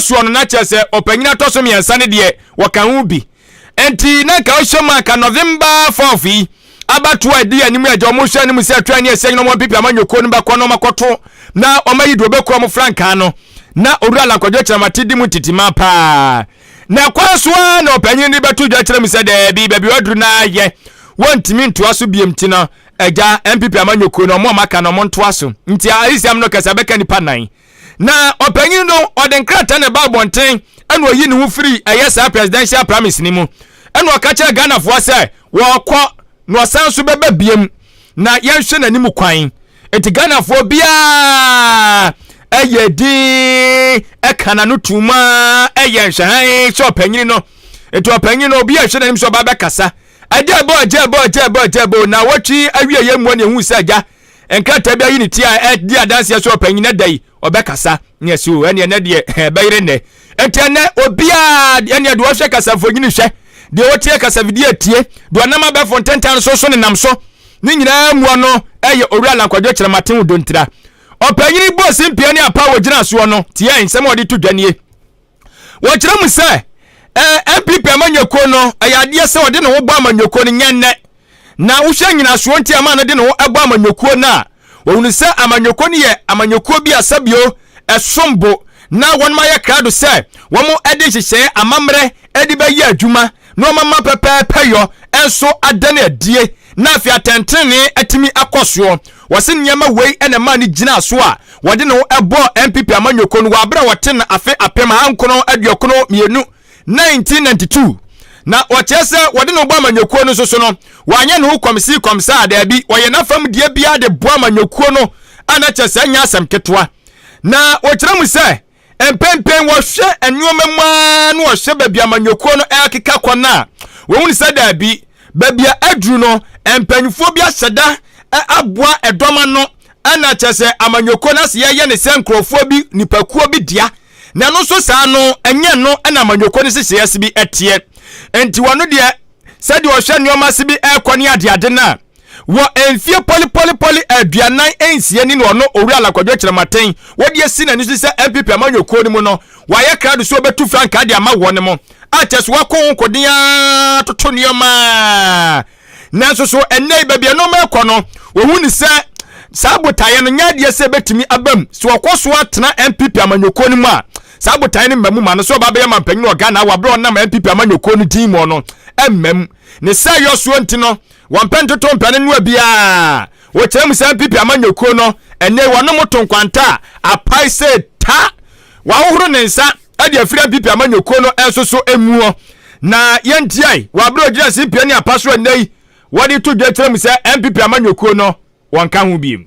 soɔ no na kyerɛ sɛ ɔpanyin atɔ so mmiɛnsa no deɛ wɔka ho bi nti na nka ɔhyɛ mu anka November 4th yi abatoɔ a ɛdi anim agya wɔn hyɛ anim sɛ atwa ani ɛsɛ nyina wɔn mpipi ama nyɔkuo no bɛkɔ na wɔn akɔto na wɔn ayi deɛ ɔbɛkura wɔn frankaa no na owura lankwadwo kyiramate di mu ntitima paa na ɛkwan so ara na ɔpanyin de bɛto dwa kyerɛ mu sɛ daabi baabi ɔduru no ayɛ wɔntumi ntoa so biam ti no agya mpipi ama nyɔkuo no wɔn a wɔaka no wɔn ntoa so nti ayisɛm no kɛse abɛka nipa nan Na ɔpanyin no ɔde nkrataa na ɛba abɔnten ɛna ɔyi ne ho firi ɛyɛ saa presidential primaries no mu ɛna ɔka kyerɛ Ghanafoɔ sɛ wɔkɔ na ɔsan nso bɛba biem na yɛnhwɛ n'anim kwan eti Ghanafoɔ biara ɛyɛ din ɛka na no tum a ɛyɛ nhwɛhan sɛ ɔpanyin no eti ɔpanyin no obi a ɛhwɛ n'anim sɛ ɔba bɛkasa ɛgya ɛbɔ ɛgya ɛbɔ ɛgya ɛbɔ ɛgya ɛbɔ na awɔtwe awie yɛ mu ɛna ehu sɛ ɛgya Nkrataa bi ayi ne ti a ɛdi adanseɛ sɛ ɔpanyin na da yi ɔbɛkasa ne ɛsi o ɛneɛ nɛ deɛ ɛbɛyere nɛ ɛnti ɛnɛ obiara ɛneɛ deɛ ɔhwɛ kasamfonyini hwɛ deɛ ɔtie kasavidie tie deɛ ɔnam abɛfo ntentan so so ne nam so ne nyinaa muɔ no ɛyɛ owura lankwadwo kyerɛmaten wo dontira ɔpanyini bɔ simpie ne apa wɔ gyina soɔ no tiɛ nsɛm a ɔde to dwa nie wɔkyerɛ mu sɛ ɛɛ npp amanyɔkuo no ɛyɛ adeɛ sɛ ɔde ne ho bɔ amanyɔkuo no nyɛ nnɛ na wohwɛ nyinasoɔ nti ama no de ne ho ɛbɔ amanyɔkuo no a wɔhunu sɛ amanyɔkuo no yɛ amanyɔkuo bi a sɛbio ɛsom bo na wɔn ayɛ krado sɛ wɔn ɛde nhyehyɛɛ amammerɛ ɛde bɛyɛ adwuma nnoɔma ma pɛpɛɛpɛ yɔ nso ada no adie na afei atɛntenenee atumi akɔ soɔ. Wɔse nneɛma wei na ɛmaa no gyinaa so a wɔde ne ho bɔɔ NPP amanyɔkuo no wɔ aberɛ a wɔte no afe apem ahankron aduokron mmienu, 1992. Na wɔkyerɛ sɛ wɔde ne ho bɔ amanyɔkuo no nso so no wanyɛ ne ho kɔmsii kɔmsaa, daabi, wɔyɛ n'afam deɛ biara de boa amanyɔkuo no a na kyerɛ sɛ ɛnyɛ asɛm ketewa. Na wɔkyerɛ mu sɛ. Mprempren wɔhwɛ nneɛma mu ara na wɔhwɛ baabi a amanyɔkuo no rekeka kɔ no a, wɔhunu sɛ daabi, baabi a aduru no, mpanimfoɔ bi ahyɛ da aboa ɛdɔm ano na kyerɛ sɛ amanyɔkuo no ase yɛyɛ ne sɛ nkurɔfoɔ bi, nipakuo bi dea. Na ɛno nso saa no, ɛnyɛ ɛno na amanyɔkuo no nhyehyɛeɛ ase bi teɛ. Enti wɔn deɛ, sɛdeɛ wɔhwɛ nneɛma ase bi rekɔ ne adeade no a, Wɔ mfeɛ pɔlepɔlepɔle aduanan nsia ni na ɔno Owura Alan Kwadwo Kyerematen wɔde asi n'ani so sɛ NPP amanyɔkuo no mu no wayɛ krado sɛ ɔbɛtu frankaa de ama wɔn mu a kyerɛ sɛ wako ho nkoden ara toto nneɛma nanso so ɛnnɛ yi baabi a nneɛma rekɔ no wɔhu no sɛ saa botaeɛ no nyɛ adeɛ sɛ ɛbɛtumi aba mu sɛ ɔkɔ so atena NPP amanyɔkuo no mu a saa botaeɛ no mma mu ma no sɛ ɔba bɛyɛ mampanyin wɔ Ghana wɔ berɛ a ɔnam NPP amanyɔkuo no din mu no mma mu ne sɛ yɔsoɔ nti no Wɔmpɛ ntoto mpɛ ne noa biaa. Wɔkyerɛ mu sɛ mpp amanyɔkuo no ɛnɛyi wɔnom to nkwanta a apae sɛ ta. Wɔahohoro ne nsa de afiri mpp amanyɔkuo no nso so muɔ. Na yɛn tiae wɔ aberɛ a ɔgyina CPA ne apa so ɛnɛyi wɔde to dwa kyerɛ mu sɛ mpp amanyɔkuo no wɔnka ho biom.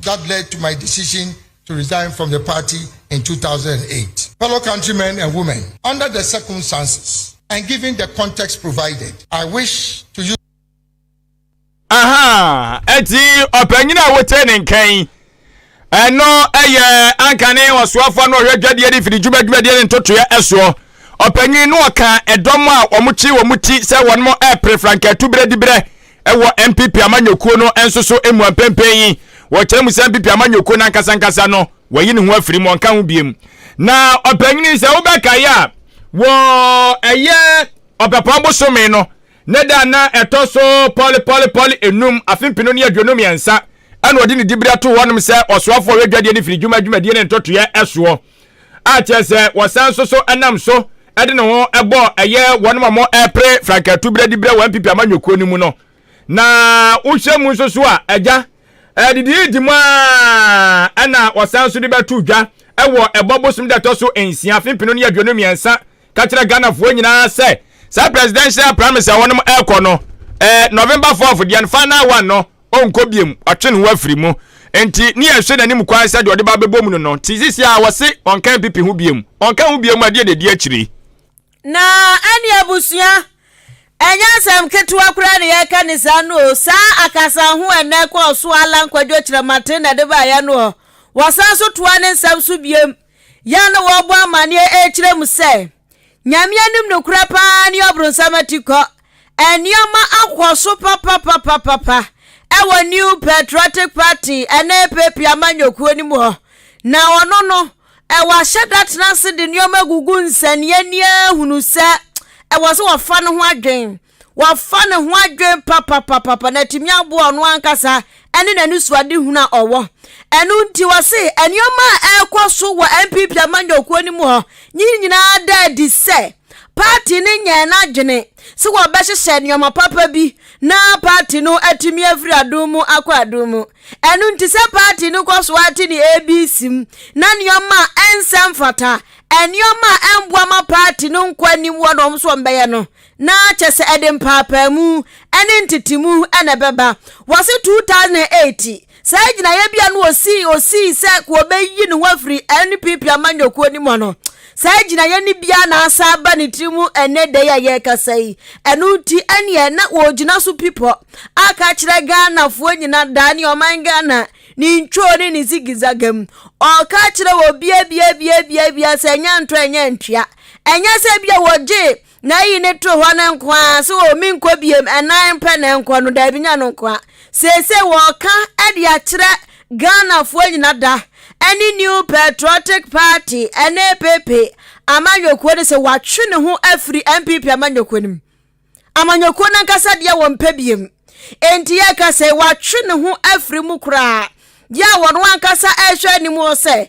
that led to my decision to resign from the party in two thousand and eight. Fellow countrymen and women, under the circumstances and given the context provided, I wish to use. Aha, eti ɔpanyin a wote ne nkan ɛno ɛyɛ ankane ɔsoafoɔ no ɔhwɛ dwadeɛ ne firi dwuma dwumadie ne ntotoeɛ ɛsoɔ ɔpanyin no ɔka ɛdɔm a wɔn kyi wɔn ti sɛ wɔn ɛpere franka tu berɛ di berɛ Wɔ NPP amanyɔkuo no nso so mua mprempren yi, wɔkyerɛ mu sɛ NPP amanyɔkuo no ankasankasa no, wayi ne ho afiri mu, ɔnka ho biom. Na ɔpanyin yi, sɛ wobɛkae a, wɔ ɛyɛ Ɔpɛpɔn bosome no ne da a na ɛtɔ so pɔlepɔlepɔle enum, afe mpenu ne aduonu mmiɛnsa, ɛna ɔde ne dibere ato hɔnom sɛ ɔsoafoɔ a ɔyɛ dwadeɛ ne firidwuma dwumadie ne ntɔtoeɛ soɔ. a kyerɛ sɛ wɔsan nso so nam so de ne ho bɔ ɛyɛ wɔn a wɔrepere frankatu berɛ de berɛ wɔ npp amanyɔkuo no mu no na wohyɛ mu nso so a agya didi di mu a na wɔsan nso de bɛto dwa wɔ ɛbɔ bosom da ɛtɔ so nsia fempino ne aduonu mmiɛnsa ka kyerɛ ghanafoɔ nyinaa sɛ saa presidential primaries a wɔnom ɛrekɔ no eh, november 4th deɛ final one no ɔnkɔ biom, watwe ne ho afiri mu. Enti ne yɛhwɛ n'anim kwan sɛ deɛ ɔde ba bɛbɔ mu no no. Nti sisi a wɔse ɔnka mpipi ho biom. Ɔnka ho biom a, deɛ na ɛdi akyire. Na ɛne abusua, ɛnyɛ asɛm ketewa koraa na yɛreka ne saa no o. Saa akasa ho ɛnɛ kɔɔ so Allan Kwadwo Kyerɛmaten na ɛde baa yɛn no hɔ. Wɔsan so toa ne nsɛm so biom, yɛn na wɔrebɔ amanneɛ ɛrekyerɛ mu sɛ. Nyame anim nokorɛ paa ne ɔbronsam atikɔ. Nneɛma akɔ so papapapapa ɛwɔ New Patriotic Party ɛne APP amanyɔkuo no mu hɔ. Na ɔno no, ɛwɔ ahyɛda tena ase de nneɛma gugu nsɛnnianni ahunu sɛ ɛwɔ sɛ wɔfa no ho adwen. wafa ne ho adwene papapapapa na atumi aboa ɔno ankasa ne n'anisoadehunu a ɔwɔ ɛno nti wɔse nneɛma a ɛrekɔ so wɔ npp amanyɔkuo no mu hɔ ne nyinaa da adi sɛ paati no nyɛɛ n'adwene sɛ wɔbɛhyehyɛ nneɛma papa bi na paati no atumi afiri adom mu akɔ adom mu ɛno nti sɛ paati no kɔ so ate ne abc mu na nneɛma a ɛnsɛ mfata nneɛma a ɛmboa ma paati no nkɔ anim wɔ na wɔn nso wɔn bɛyɛ no na kyerɛ sɛ ɛde mpaapaemu ne ntetemu na ɛbɛba. Wɔse 2008 saa gyinaeɛbea no osii osii sɛ wɔbɛyi ne ho afiri NPP amanyɔkuo no mu no, saa gyinaeɛ no biara na asan aba ne tiri mu ɛnnɛ da yi a yɛrekasa yi. Ɛno nti ɛneɛ na wɔgyina so pipɔ aka akyerɛ Ghanafoɔ nyinaa daa ne ɔman Ghana ne ntwoo ne ne zigizaga mu. Ɔreka akyerɛ obiabiabiabiabia sɛ ɛnyɛ ntɔ ɛnyɛ ntwea. Ɛnyɛ sɛ bia wɔgye Na eyi ne toro hɔ no nko ara, sɛ o menkɔ biem, ɛnan pɛ na ɛnkɔ no, daabi nyɛ no nko ara. Seesei wɔreka de akyerɛ Ghanafoɔ nyina da ne New Patriotic Party, NAPP, amanyɔkuo no sɛ watwe ne ho afiri NPP amanyɔkuo no mu. Amanyɔkuo no ankasa deɛ wɔmpɛ biem. Enti yɛka sɛ watwe ne ho afiri mu koraa. Deɛ wɔn ankasa ɛrehwɛ anim hɔ sɛ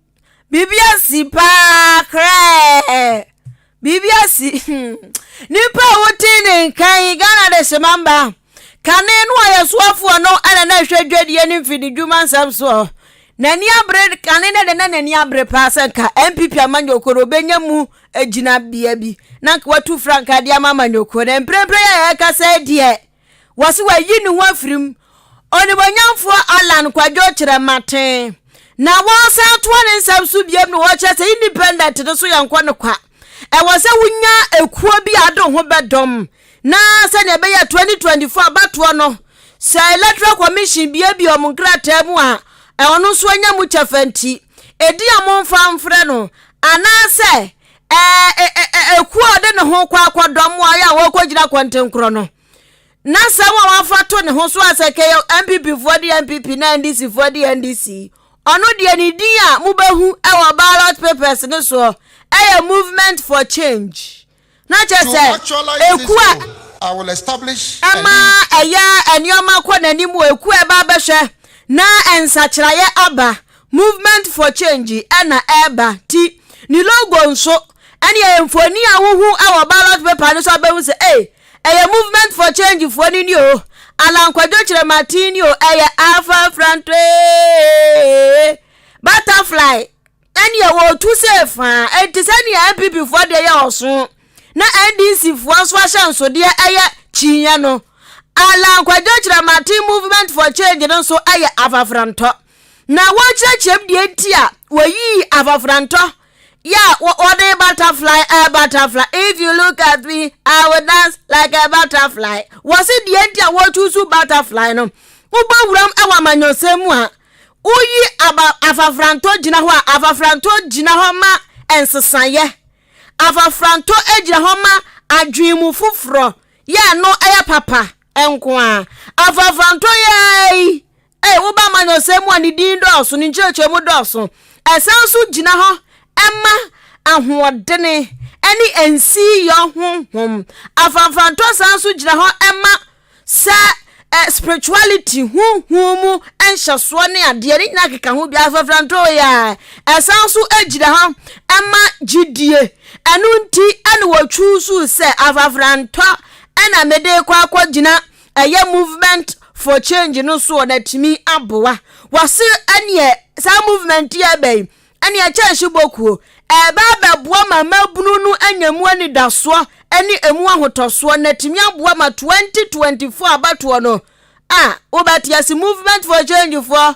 Biribi asi paa krɛɛ. Biribi asi. Nnipa a wote ne nkan yi, Ghana de hyema mba. Kane no a yɛ soafoɔ no ɛna na ɛhwɛ dwadie ne mfididwuma nsɛm soɔ. N'ani abere kane no de na n'ani abere paa sɛ nka NPP amanyɔkuo no wɔbɛnya mu gyinabea bi na nka watu frankaa de ama amanyɔkuo no. Mprempren a yɛkasa yi deɛ, Wɔse wayi ne ho afiri mu. Onimuonyamfoɔ Allan Kwadwo Kyerɛmaten na wɔsan atoa ne nsɛm so biom na wɔkyerɛ sɛ independent no so yɛnkɔ no kwa. Ɛwɔ sɛ wonya ekuo bi a ade ho bɛdɔm na sɛdeɛ ɛbɛyɛ 2024 abatoɔ no sɛ Electoral Commission biebie wɔn nkrataa mu a ɔno nso anya mu kyɛfa nti, ɛdi a momfa mfrɛ no anaasɛ Ekuo a ɔde ne ho kɔ akɔdɔ mmoaeɛ a wɔkɔgyina kɔntenkorɔ no na sɛ wɔn afa to ne ho so a sɛ kɛyɛ npp foɔ de npp na ndc foɔ de ndc ɔno deɛ ne din a mobɛhu wɔ ballot papers ne soɔ ɛyɛ movement for change na kyɛ sɛ eku a ɛma ɛyɛ nneɛma kɔ n'anim wɔ eku a ɛba abɛhwɛ na nsakyeraeɛ aba Movement for Change na ɛreba nti ne logo nso ɛne ɛyɛ mfoni a wohu wɔ ballot paper no so abɛhu sɛ ei ɛyɛ Movement for Change foɔ no ni o Alan Kwadwo Kyerɛmaten ni o ɛyɛ Alpha Frantoe Butterfly ɛne ɛwɔ otu sɛ faa ɛnti sɛnea NPP foɔ deɛ yɛ ɔso na NDC foɔ nso ahyɛnsodeɛ ɛyɛ kyinyɛ no Alan Kwadwo Kyerɛmaten Movement for Change no nso ɛyɛ afafrantɔ. na wɔrekyerɛkyerɛm deɛ nti a wɔyii afafrantɔ yɛ a wɔde butterfly a eh, butterfly if you look at me i will dance like a butterfly wɔse deɛ nti a wɔtu so butterfly no wobɔ wuram wɔ amanyɔsɛm mu a woyi aba afafrantɔ gyina hɔ a afafrantɔ gyina hɔ ma nsesaeɛ afafrantɔ gyina hɔ ma adwene mu foforɔ yɛ no ɛyɛ papa nko a afafrantɔ yɛ yi a ɛwɔ ba amanyɔsɛm mu a ne din dɔɔso, ne nkyerɛkyerɛmu dɔɔso. Ɛsan nso gyina hɔ ma ahoɔdene ne nsiyɔ honhom. Afamfantɔ san nso gyina hɔ ma sɛ eh, spirituality honhom mu nhyɛsoɔ ne adeɛ ne nyinaa keka ho bi afamfantɔ yɛ ɛsan nso gyina hɔ ma gyidie ɛno nti ɛna wɔtwusu sɛ afamfantɔ ɛna mede kɔ akɔgyina ɛyɛ movement for change no so na atumi aboa wɔse ɛneɛ saa movement yi ɛbɛ yi ɛneɛ kyɛnhye bokuo ɛbɛ abɛboa ma mmabunu no anya mu anidasoɔ ɛne ɛmu ahotɔsoɔ na atumi aboa ma 2024 abatoɔ no a wobɛte ase movement for change foɔ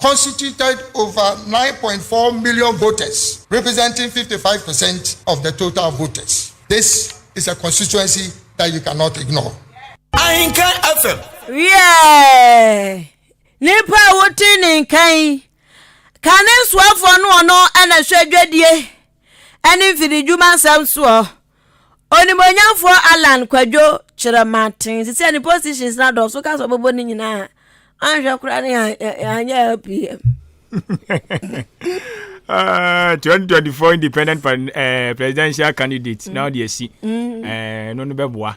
constituted over nine point four million voters, representing fifty five percent of the total voters. This is a constituency that you cannot ignore. Ahinka FM. Wiɛ, nipa a wote ne nkan, kane soafoɔ no ɔno ɛna hwɛ dwadie. ne mfididwuma nsɛm soɔ. Onimuonyamfoɔ Allan Kwadwo kyerɛ maten sisi a ne positions na dɔɔso ka sɛ ɔbɛbɔ ne nyinaa anhwɛ koraa ne anyɛ LPM. Uh, 2024 independent uh, presidential candidate mm. na ɔde asi ɛno no bɛboa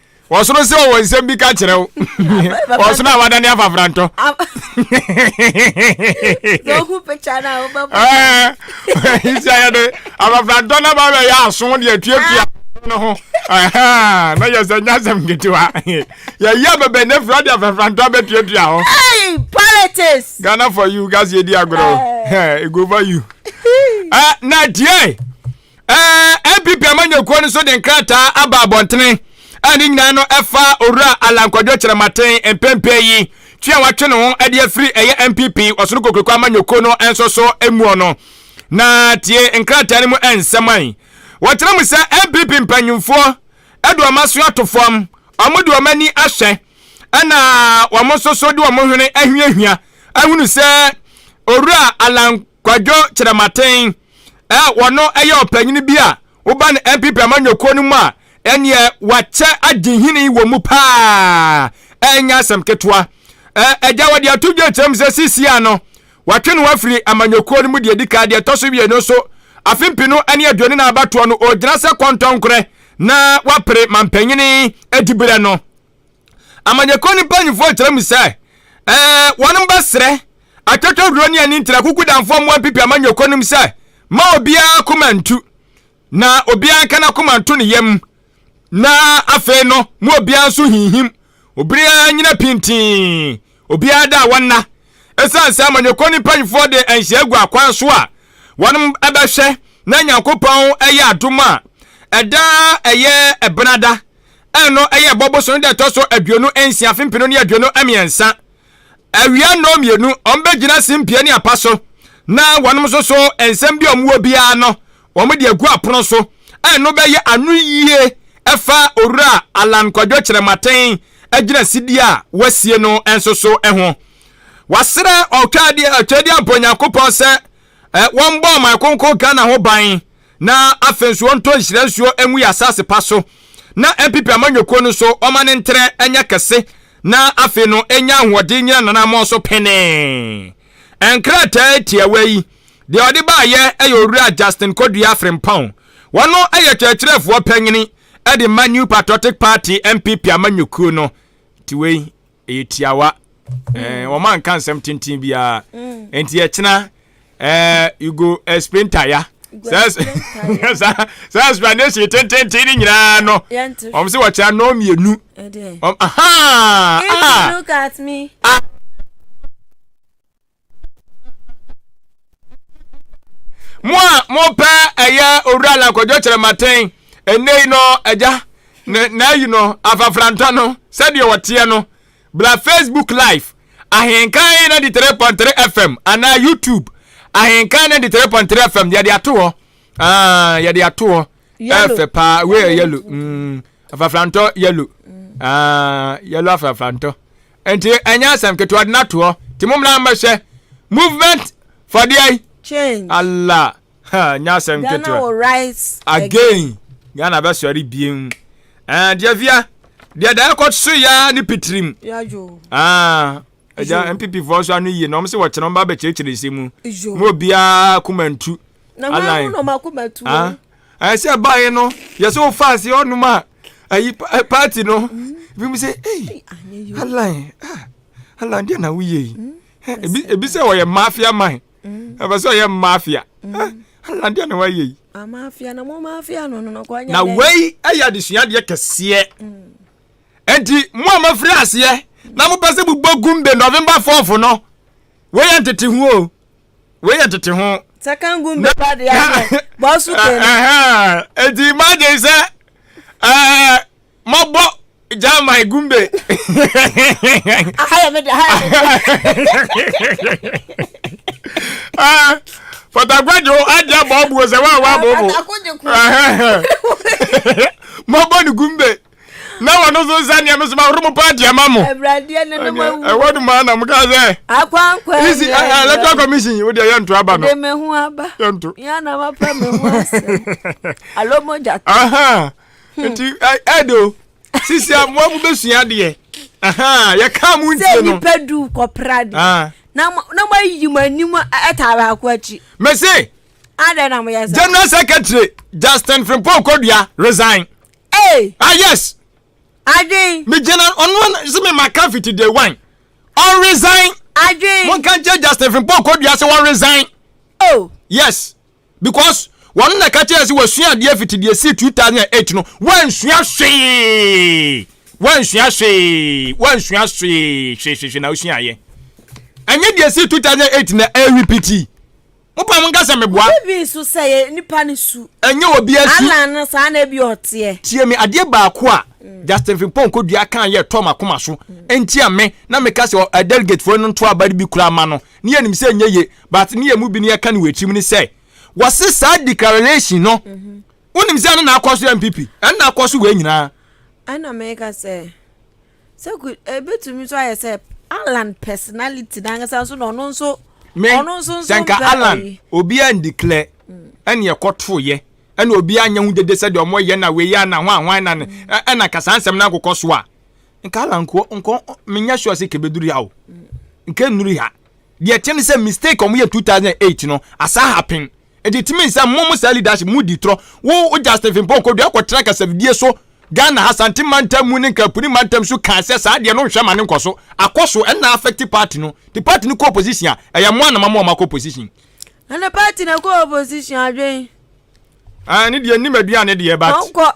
ɔsono sɛ ɔwɔ nsɛm bi ka kyerɛ wo ɔsono a wadane afa frantɔ isiayɛ de afafrantɔ na ba bɛyɛ aso de atuatua no ho na yɛ sɛ nya asɛm ketewa yɛyɛ bɛbɛ ne fira de afafrantɔ bɛtuatua ho politics ghana for you gase ɛdi agorɔ ɛgoba you na tie npp amanyɔkuo no nso de nkrataa aba abɔntene a ne nyinaa no ɛfa owura Alan Kwadwo Kyerɛmaten mpɛmpɛ yi twe a watwe ne ho de afiri ɛyɛ npp ɔsono kokuroko amanyɔkuo no nso so muo no na tie nkrataa no mu nsɛm an wɔkyerɛ mu sɛ npp mpanyimfoɔ de wɔn aso ato fam wɔn de wɔn ani ahyɛ ɛna wɔn nso so de wɔn hwene ahiahia ahunu sɛ owura Alan Kwadwo Kyerɛmaten, ɛ, wɔno yɛ ɔpanyini bi a woba no NPP amanyɔkuo no mu a ɛneɛ wakyɛ agye hini wɔ mu pa ara, ɛnyɛ asɛm ketewa. Ɛ, agya wɔde ato dwa akyerɛ mu sɛ seesei ara no wɔatwe ne ho afiri amanyɔkuo no mu deɛ ɛdi kan, deɛ ɛtɔ so mmienu nso afe mpenu ne aduonu nan abatoɔ no ɔregyina sɛ kɔntɔnkorɛ na wapere mampanyini adiberɛ no. Amanyɛkuo no mpanimfoɔ kyerɛ mu sɛ wɔn bɛsrɛ atwatwaduo ne ani ntira kuku danfoɔ mmoa mpipi amanyɛkuo no mu sɛ ma obiara koma ntu na obiara nka n'akoma nto ne yam na afei no mu obiara nso hinhim obiara nyina pintinn obiara da a wɔnna ɛsiane sɛ amanyɛkuo no mpanimfoɔ de nhyɛ agu akwan so a wɔn bɛhwɛ na nyankopɔn ɛyɛ adom a ɛda ɛyɛ ɛbenada Ɛno yɛ ɛbɔ bosome da ɛtɔ so aduonu nsia afe mpenu ne aduonu mmiɛnsa. Awia nnɔɔ mmienu, wɔbɛgyina simpie ne apa so, na wɔnom nso so nsɛm bi a wɔwɔ biara no, wɔde agu apono so. Ɛno bɛyɛ ano yie fa Owura Allan Kwadwo Kyerɛmaten agyina sidie a wɔasie no nso so ho. Wɔasrɛ Ɔtwadeɛ Ɔtwadeɛ abɔ Nyankopɔn sɛ wɔmmɔ ɔman konko Ghana ho ban Na afei nso ɔntɔ nhyira nsuo ngu yɛn asase pa so, na mpepe amanyɔkuo no nso ɔmma no ntrɛ nyɛ kɛse, na afei no ɛnya ahoɔden nnyina n'anammɔn so pene. Nkrataa tiawa yi, deɛ ɔde baeɛ yɛ Owura Justin Kodua Frimpong, ɔno yɛ kyerɛkyerɛfoɔ panin de ma New Patriotic Party, NPP, amanyɔkuo no. Nti wei ɛyɛ tiawa ɛɛ mm. wɔn anka nsɛm tenten biara mm. nti ɛkyena ɛɛ you go explain taya saa explanation tententen ne nyinaa no wɔn sɛ wɔkyerɛ no mmienu wɔn ahaa ah. mo a mopɛ ɛyɛ owura lankɔdwo kyerɛmaten ɛnɛ yi no agya n'ayi no afafrantɔ no sɛdeɛ wɔteɛ no bla facebook live ahenkan 93.3 fm anaa youtube ahenkan 93.3 fm yɛde ato hɔ ah, yɛde ato hɔ ɛfɛ paa wei yɛ yɛlo mm, afafrantɔ yɛlo mm. ah, yɛlo afafrantɔ Nti ɛnyɛ asɛm ketewa de no ato hɔ. Nti mo mmra mmɛhwɛ movement for deɛ yi. Change. Allah. Ha, nyɛ asɛm ketewa. Ghana will rise again. Ghana bɛsɔre biem. Eh, deɛ via, deɛ da ɛkɔ so ya ne pitirim. Yadwo. Ah. Ɛgya MPP foɔ nso ano yie na wɔn sɛ wɔkyerɛ wɔn ba bɛkyerɛkyerɛ nsɛm mu. Mo obiara kuma ntu. Na wɔn ano na wɔn akoma tu. Ah. Ɛsɛ baayɛ no, yɛ sɛ wofa ase ɔnom a. ayi eh, party no mm-hmm. ebi mu sɛ ei alan ah, alan deɛ na woyɛ yi mm, eh, ebi sɛ ɔyɛ mafia man mm. ɛfɛ sɛ ɔyɛ mafia mm. eh, alan deɛ na woayɛ yi ah, na wei ɛyɛ adesuadeɛ kɛseɛ enti mo a mafiri aseɛ na mopɛ sɛ mobɔ gumbe november 4 no woyɛ ntete ho o wei yɛ tete ho. sakangun bɛ ba de adeɛ bɔsu kɛnɛ. eti imagine sɛ ɛɛ mɔbɔ jama igumbe. ahayɛ mi de ahayɛ mi de. fɔtagbajo adi abɔ ɔbu ɔsɛ wa wa bɔ bɔ. mɔbɔ ni gumbe. na wɔn nso nsa nea me soma horo mu paa di ama mo. awuradeɛ ne no ma wu. ɛwɔ no maa na mo kaa sɛ. akwankwa yi isi electoral commission yi o deɛ yɛnto aba no. de me ho aba. yɛnto. yɛn na ma pa me ho asɛm. alo mo gya to. Hmm. nti ɛdo sisi amoa mo bɛ sua deɛ yɛ kaa mo nti no. sɛ nipa du kɔpra de. Ah. na mo na mo ayi mo anim ɛta baako akyi. mɛ se. adɛ na mo yɛ sɛ. general secretary justin frimpong kodua resign. Hey. Ah yes. Adwin. Me gyina ɔno sɛ me ma ka fiti day one. Ɔn resign. Adwin. Mo nka nkyɛn Justin Frimpong kɔ dua sɛ wɔn resign. Oh. Yes. Because wɔn na ka kyerɛ sɛ wɔsua adeɛ fiti deɛ si two thousand and eight no wɔnsua hwee wɔnsua hwee wɔnsua hwee hwehwehwe na wɔsua ayɛ. Ɛnyɛ deɛ si two thousand and eight na ɛrepiti. Mopa mo nka sɛ meboa. Obi bi nso sɛ yɛ nipa ne su. Ɛnyɛ obi asu. Alan no saa na ebi ɔteɛ. Tie me adeɛ baako a mm. Justin Frimpong kodua kan yɛ tɔ makoma so mm. ntia me na meka sɛ ɔ eh, delegate foɔ no nto abare bi koraa ma no ne yɛ nim sɛ nyɛ ye but ne yɛ mu bi ne yɛka ne wɔ atirim ne sɛ wɔse saa declaration no mhm. wonim sɛ ɛno na akɔ so yɛ mpp ɛno na akɔ so wɔ nyinaa ɛna meka sɛ Sɛ ku ebetumi nso ayɛ sɛ Alan personality n'ankasa nso na ɔno nso ɔno nso nso nka Alan obi a ndikilɛ hmm. ɛna ɛkɔto yɛ ɛna obi anya ho dede sɛ deɛ ɔmo yɛ na wei ana ho ahoan na ne hmm. ɛna nka saa nsɛm na akokɔ so a nka Alan nko nko menya sure sɛ kebeduru ha o hmm. nka nnuru ha deɛ ɛte ne sɛ mistake ɔmo yɛ two thousand eight no asa happen. Ɛde tumi sɛ mo mo saa leadership mo di trɔ. Wo wo Justin Frimpong kɔdua kɔtena kasafidie so Ghana ha Sante mantam mu ne Nkaapuni mantam su kaa sɛ saa deɛ no nhwɛ ma no nkɔso. Akɔ so ɛna affect party no. Nti party no kɔ opposition a ɛyɛ mo a na mama wɔn akɔ opposition. Ɛna party no kɔ opposition adwen. Aane deɛ nnim aduane deɛ but. Wɔnkɔ.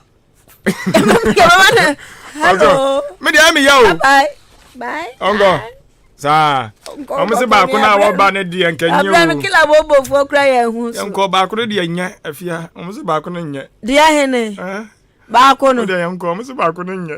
hello me deɛ meyɛ o ɔnkɔ saa ɔmo se baako no a wɔba no deɛ nkɛnyɛ oyɛnkɔ baako no deɛ nyɛ afia ɔmo se baako no nyɛ deɛ hene baako no deɛ yɛnkɔ ɔmo se baako no nyɛ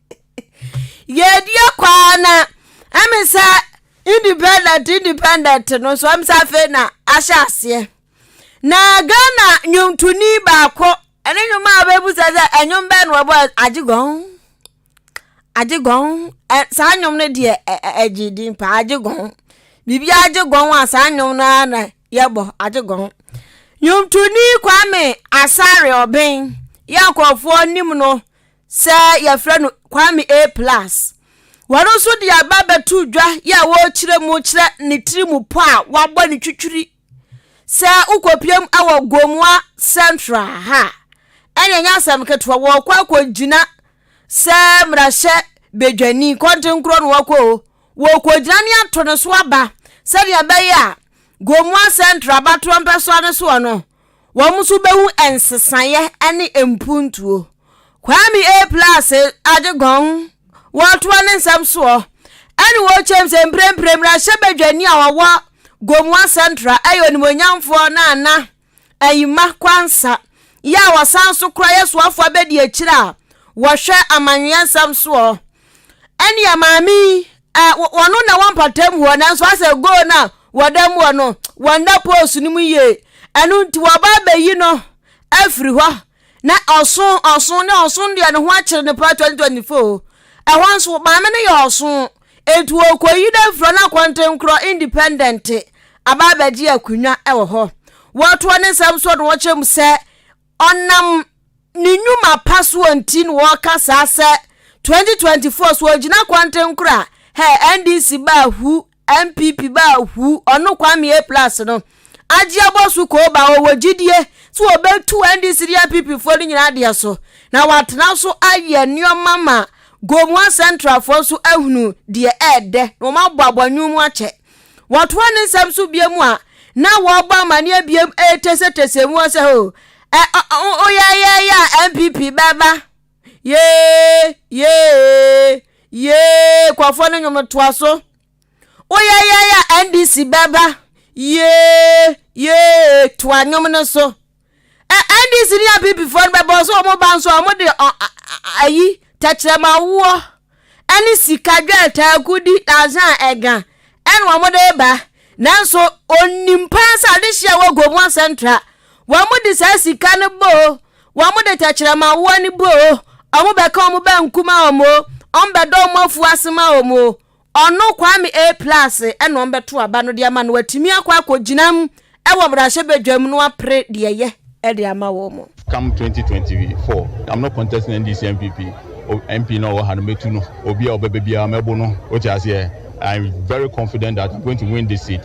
Yɛredi akɔ ara na ɛmi sɛ independent independent no nso ɛmi sɛ afei na ahyɛ aseɛ na Ghana nnwontoni baako ɛne nnwom a wɔbɛbisa sɛ ɛnwom bɛn na wɔbɔ agye gɔn agye gɔn ɛ saa nnwom no deɛ ɛ ɛgye din paa agye gɔn biribi agye gɔn a saa nnwom no ara na yɛbɔ agye gɔn nnwontoni Kwame Asare Ɔbɛn yɛ nkurɔfoɔ nim no. sɛ yɛfrɛ no kwame a plus wɔn nso de aba bɛto dwa yɛ a wɔrekyerɛ mu kyerɛ ne tiri mu pɔ a wabɔ ne twitwiri sɛ wokɔpiam wɔ gomoa central ha ɛnyɛ nyɛ asɛm ketewa wɔrekɔ akɔgyina sɛ mmarahyɛ badwani kɔntenkorɔ no wɔkɔ o wɔrekɔgyina ne ato ne so aba sɛdeɛ ɛbɛyɛ a gomoa central abatoɔ mpɛsoa ne soɔ no Wɔn nso bɛhu nsesaeɛ ne mpuntuo. Kwame A. Plase Adegɔn wɔtoa ne nsɛm soɔ ɛne wɔkyɛm sɛ mprempren mmarahyɛbadwani a ɔwɔ Gomoa Central ɛyɛ onimuonyamfoɔ Nana Ayima Kwansa yɛ a wɔsan so kora yɛ soafoɔ abɛdi akyire a wɔhwɛ amanweɛ nsɛm soɔ ɛnea maame yi ɛ wɔno na wɔn mpatam hɔ nanso asɛ goal no a wɔda mu hɔ no wɔnda post no mu yie ɛno nti wɔba abɛyi no afiri hɔ na ɔso ɔso ne ɔso deɛ ne ho akyere no paa 2024 ɛhɔ nso maame no yɛ ɔso nti wɔkɔyi no afiri hɔ na akɔntenkorɔ independent aba abɛgye akonnwa wɔ hɔ wɔtoɔ ne nsɛm so na wɔkyerɛ mu sɛ Ɔnam ne nnwuma pa soɔ nti na wɔka saa sɛ 2024 so ɔgyina kwantenkora hɛ NDC baa hu NPP baa hu ɔno Kwame A plus no agye abɔ so koo baa ɔwɔ gyidie sɛ wɔbɛtu NDC ne NPP foɔ no nyinaa deɛ so na watena so ayɛ nneɛma ma Gomoa Central foɔ nso ahunu deɛ ɛɛdɛ na wɔn abɔ abɔnwom akyɛ Wɔtoa ne nsɛm so biom a na wɔrebɔ amanneɛ biom retesetese mu hɔ sɛ, oh, ɛ, ɔ, ɔ, o yɛ yɛ yɛ a NPP bɛba. Yee, yee, yee, kɔfoɔ no nnwom toa so. O yɛ yɛ yɛ a NDC bɛba. Yee, yee, toa nnwom no so. NDC ne APPfoɔ no bɛbɔ nso wɔn ba nso wɔn de ayi tɛkyerɛma woɔ ɛne sika dwɛɛta agudi asan ɛga ɛna wɔn de ba nanso onim paa sɛ ade hyia wɔ Gomoa Central wɔn de saa sika no boo wɔn de tɛkyerɛma woɔ no boo wɔn bɛka wɔn bɛnkuma wɔn wɔn bɛdɔ wɔn afu ase ma wɔn. Ɔno, Kwame A. Plus, na ɔmbɛtow aba no de ama no watumi akɔ akɔgyinam wɔ mmarahyɛbadwam no apere deɛ ɛyɛ de ama wɔn. Come twenty twenty four I'm not contesting NDC NPP o MP no a ɔwɔ ha no mɛtu no obi a ɔbɛba biara mɛbo no wote aseɛ I'm very confident that I'm going to win this seat.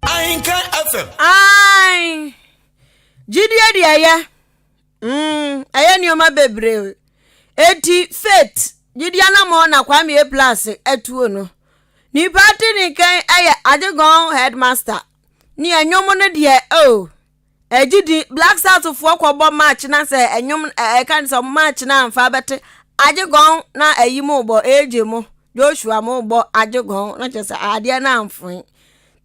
Ahenka FM. Ae. Gyidie de ɛyɛ. Mm, ɛyɛ nneɛma bebree. Eti faith, gyidie anamɔ na Kwame Eplase atuo no. Nipa ate ne nkan yɛ Adegɔn headmaster. Ne ɛnwom no deɛ, oh. Ɛgye din, Black South foɔ kɔ bɔ march na sɛ ɛnwom ɛka ne sɛ ɔmo march na nfa bɛte agye gɔn na ɛyi mo bɔ AJ mo Joshua mo bɔ agye gɔn na kyerɛ sɛ adeɛ na nfoe.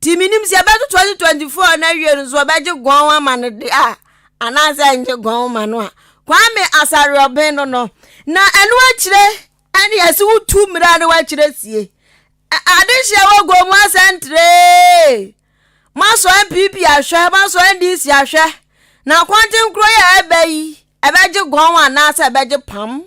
Ti mi nim sɛ ɛbɛto 2024 na awie no nso ɔbɛgye gɔn ama no de a anaasɛ ngye gɔn ma no a. Kwame Asariɔben no no na ɛno akyire ɛne ɛsi wotu mmira no akyire sie. Adehyɛ wɔ gɔn mu asɛntree. Moasɔ NPP ahwɛ, moasɔ NDC ahwɛ. Na kɔnkyen koro yi a ɛbɛ yi, ɛbɛgye gɔn anaasɛ ɛbɛgye pam?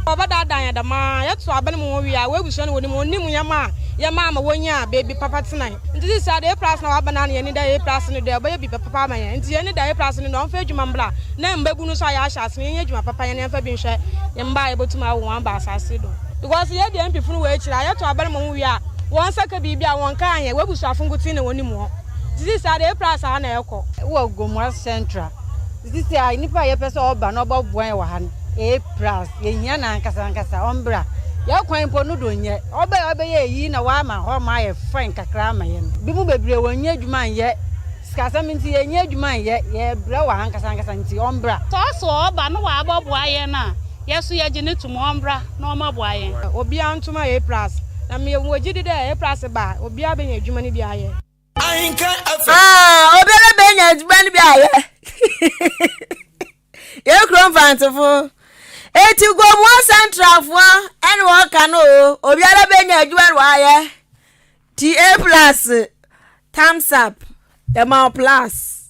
Wɔbɛdaadaa yɛn dɛm ara. Yɛto abɛn mu wie a, wɔabusua no wɔnim. Wɔnim yɛn ma a yɛma ama wɔnya baabi papa tena. Nti seesei de APRAS na wɔaba no ara na yɛn ani da APRAS no do a, ɔbɛyɛ biribi papa ama yɛn. Nti yɛn ani da APRAS no do a ɔmfa adwuma mbra na mmabu no nso a yɛahyɛ ase no yɛnyɛ adwuma papa, yɛn yɛmfa bi nhwɛ yɛn mma a yɛbɛtum awo wɔn aba asaase do. Because yɛadi NPP no wɔ akyiri a, yɛto abɛn mu wie a, Wɔn nsa ka biribi a wɔn nka anyɛ, w'abusuafo nkotsee na wonim hɔn. Dzedzi saa dɛ epira asaa na ekɔ. Wɔ Gomoa Central, dzedzi saa nyimpa a yɛpɛ sɛ ɔba na ɔbɔboa hɛn wɔ ha no, epira ase. Yehia no ankasa ankasa, ɔmbra. Hɛn kwan mpo no do nnyɛ. Ɔba a ɔbɛyɛ iyi na ɔama hɔma ayɛ fine kakra ama hɛn. Binom beberee wonnya edwuma nnyɛ, sikasɛm ntsi yɛnnya edwuma nnyɛ, yɛrebrɛ wɔ ha ankasa ankasa ntsi ɔmbra. Sɛ ɔso ɔba na ɔabɔboa hɛn a, Yɛ so yɛgye no to mu, ɔmbra na ɔmɔboa yɛn. Obiara ntom ayɛ Aprase. Na me wɔ gyidi dɛ Aprase ba a, obiara benya edwuma no bi ayɛ. Aah obiara benya edwuma no bi ayɛ. Yɛn kuro Mfantsefo. Eti Gomoa Centralfoɔ ɛna wɔn ka no oo. Obiara benya edwuma no wayɛ. Ti Aprase, thumbs up. Yɛ ma wo plus.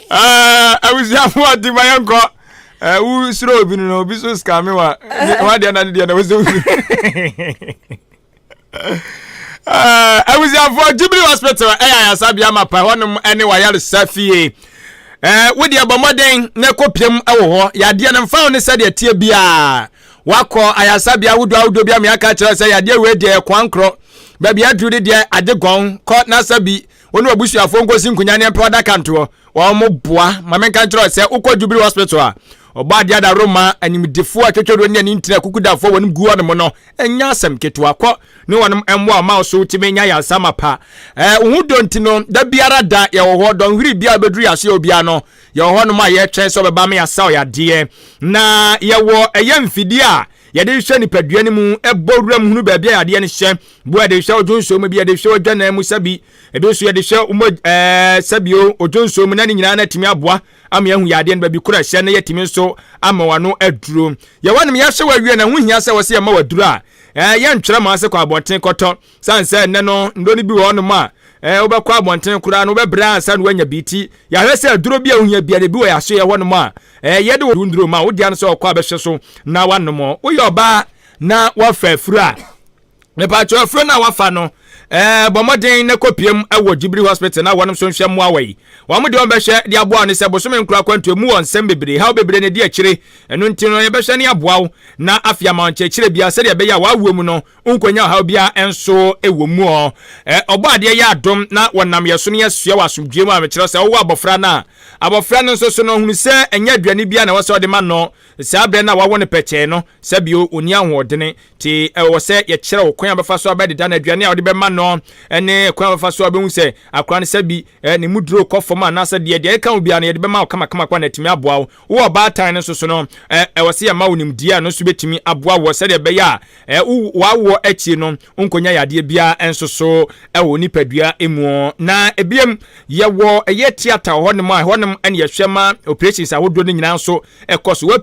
abusuafo ɔte ma yɛ nkɔ wo suro obi no na obi so skame wa wadeɛ na ne deɛ na wo sɛ wo suro abusuafoɔ jubilee hospital ɛyɛ ayasabea mapa hɔnom ne wayaresɛ fie wode ɛbɔ mmɔden na ɛkɔpiam wɔ hɔ yadeɛ no mfa wo ne sɛdeɛ teɛ biaa wakɔ ayasabea wodoɔ ahodoɔ bi ameaka kyerɛ sɛ yadeɛ wei deɛ ɛkoa nkorɔ baabi aduru de deɛ agye gɔn kɔ na sɛ bi wo ne w'abusuafoɔ nkɔsi nkonya ne mpɛ ɔdaka ntoɔ wɔn boa ma menka nkyerɛ sɛ wokɔ jubilee hospital a ɔbɔ adeɛ adaworo ma animdefoɔ a twɛtwɛduro ne ani ntina kukudafoɔ wɔnom gu wɔnom no ɛnyɛ asɛm ketewa kɔ ne wɔnom mmoa ɔma wo so wotumi nya yansama pa ɛɛ wo ho dɔ nti no da biara da yɛwɔ hɔ dɔnhwere biara bɛduru yɛase yɛ obiara no yɛwɔ hɔ nom a yɛtwɛn sɛ ɔbɛba ma yɛasa ɔyɛ adeɛ na yɛwɔ ɛyɛ mfidie a yɛde hwɛ nipadua no mu ɛbɔ wura mu hunu baabi a yadeɛ no hyɛ Bu a yɛde hwɛ odwo nsuo mu bi yɛde hwɛ odwanan mu sɛbi ebi nso yɛde hwɛ mo ɛɛ sɛbi o odwo nsuo mu na ne nyinaa no atumi aboa ama yɛahu yadeɛ no baabi koro ɛhyɛ na yɛatumi nso ama wano aduro yɛwɔ nom yɛahwɛ wawie na ho hia sɛ wɔsɛ yɛma waduro a ɛɛ yɛntwerɛ ma ase kɔ abɔnten kɔtɔ san sɛ ɛnɛ no nnuro no bi wɔ hɔ nom a ɛɛ wobɛkɔ abɔnten koraa no wobɛbrɛ ansa na woanya bi ti yɛahwɛ sɛ aduro bi a wohia bia de bi wɔ yɛaso yɛ hɔ nom a ɛɛ yɛde wo nnuro ma wodeɛ no sɛ ɔkɔ abɛhwɛ so na wanom woyɛ ɔbaa na wafa afuro a mepatwɛ afuro no a wafa no ɛɛ bɔ mmɔden na kɔpiem wɔ gyibiri hospital na wɔn nso nhwɛ mmoa wɔ yi wɔn de wɔn bɛhwɛ de aboa wɔn sɛ bosome nkura akwantu emu wɔ nsɛm bebree haw bebree na ɛdi akyire ɛno nti no yɛbɛhwɛ ne aboa wo na afei ama wɔn kyerɛkyerɛ bia sɛdeɛ ɛbɛyɛ a wɔawoɔ mu no nkonya ɔhaw biara nso wɔ mu ɔ ɔbɔ adeɛ yɛ adom na wɔnam yɛ so no yɛsua wɔ asomdwoeɛ mu a mekyerɛ sɛ wowɔ abɔfra no a abɔfra no nso so no hunu sɛ ɛnyɛ aduane biara na ɛwɔ sɛ ɔde ma no saa berɛ no a wawo no pɛkyɛɛ no sɛbio ɔni ahoɔdene Nti ɛwɔ sɛ yɛkyerɛ wo kwan a bɛfa so abɛdeda no, aduane a wode bɛma no, ne kwan a bɛfa so abɛhu sɛ akora no sɛ bi ne mu duro kɔ fam anaasɛ deɛ. Deɛ ɛkeka ho biara no, yɛde bɛma wo kamakamakama na atumi aboa wo. Wowɔ ɔbaatan no nso so no, ɛwɔ sɛ yɛma wo nimdeɛ a ɛno nso bɛtumi aboa woɔ sɛdeɛ ɛbɛyɛ a w'awoɔ akyire no wonkɔnya yadeɛ biara nso so wɔ wo nipadua mu. Na biom, yɛwɔ ɛyɛ theatre wɔ hɔnom a ɛhɔnom na yɛhwɛ ma operations ahodoɔ no nyinaa nso kɔ so.